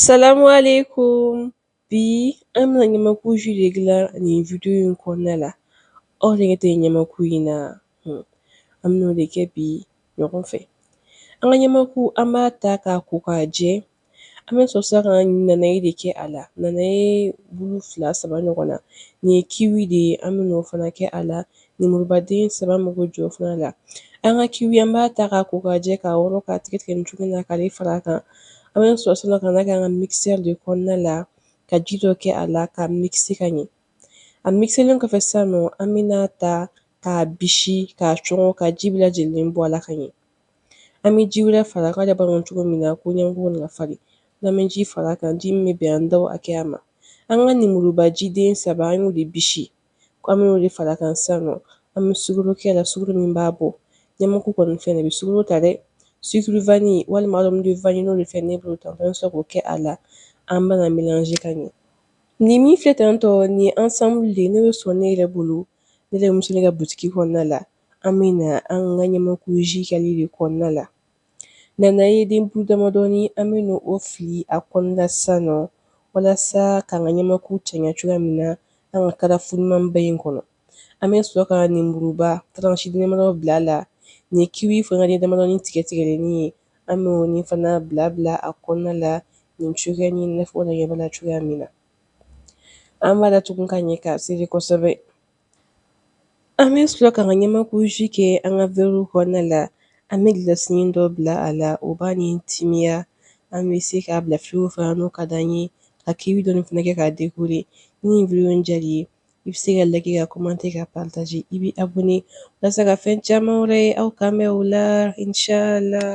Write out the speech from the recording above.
Salamu alaikum bi an bɛna ɲamaku ji de dilan nin video in kɔnɔna la aw nege tɛ ɲamaku in na hmm. an bɛna o de kɛ bi ɲɔgɔn fɛ an ka ɲamaku an b'a ta k'a ko k'a jɛ an bɛ sɔrɔ sisan ka nanaye de kɛ a la nanaye bulu fila saba ɲɔgɔnna nin ye kiwi de ye an bɛn'o fana kɛ a la Nimuruba den saba mago jɔ fana la an ka kiwi an b'a ta k'a ko k'a jɛ k'a wɔrɔ k'a tigɛ tigɛ cogo na ka fara a kan an bɛ sɔrɔ k'a kɛ an ka mikisɛri de kɔnɔna la ka ji dɔ kɛ a la k'a mikise ka ɲɛ a mikiselen kɔfɛ sa nɔ an bɛn'a ta k'a bisi k kaa c k'a ji bɛɛ lajɛlen bɔ a la ka ɲɛ an bɛ ji wɛrɛ fara a kan bamananw cogo min na ko ɲɛgo na falen lam ji fara a kan ji min bɛ bɛn an da a kɛya ma an ka ninmurubaji den saba an b'o de bisi ko an b'o de fara a kan san nɔ an bɛ sukaro kɛ a la sukaro min b'a bɔ ɲamaku kɔni fɛ bɛ sukaro ta dɛ sukaro vanille walima ɲini de fɛ ne bolo ta an sɔrɔ k'o kɛ a la an bɛn'a melanze ka ɲɛ nin min filɛ tan nɔ ni ensemble de nin bɛ sɔrɔ ne yɛrɛ bolo ne bɛ muso ka butigi kɔnɔna la an bɛna an ka ɲamakuji kɛ ale de kɔnɔna la Nanayeden bulu damadɔni an bɛna o fili a kɔnɔna sisan nɔ walasa k'an ka ɲamakuji cɛɲa cogoya min na an ka karafu ɲumanba in kɔnɔ an bɛ sɔrɔ ka ninmuruba taransi damadɔ bila a la nin kiwi fana de damadɔni tigɛ tigɛlenni ye an bɛ o ni fana bila bila a kɔnɔna la nin cogoya ni na aw fana ɲɛ b'a la cogoya min na an b'a latugu ka ɲɛ k'a sɛri kosɛbɛ An bɛ sɔrɔ ka ɲamakuji kɛ an ka vɛri kɔnɔna la an bɛ gilasi dɔ bila a la o b'a ni timiya an bɛ se k'a bila frigo fɛ n'o ka di an ye ka kiwi dɔ fana kɛ k'a dekore ni video diyara i ye i bɛ se ka liker ka commenter ka partager i b'i abonner walasa ka fɛn caman wɛrɛ ye aw k'an bɛn o la inshallah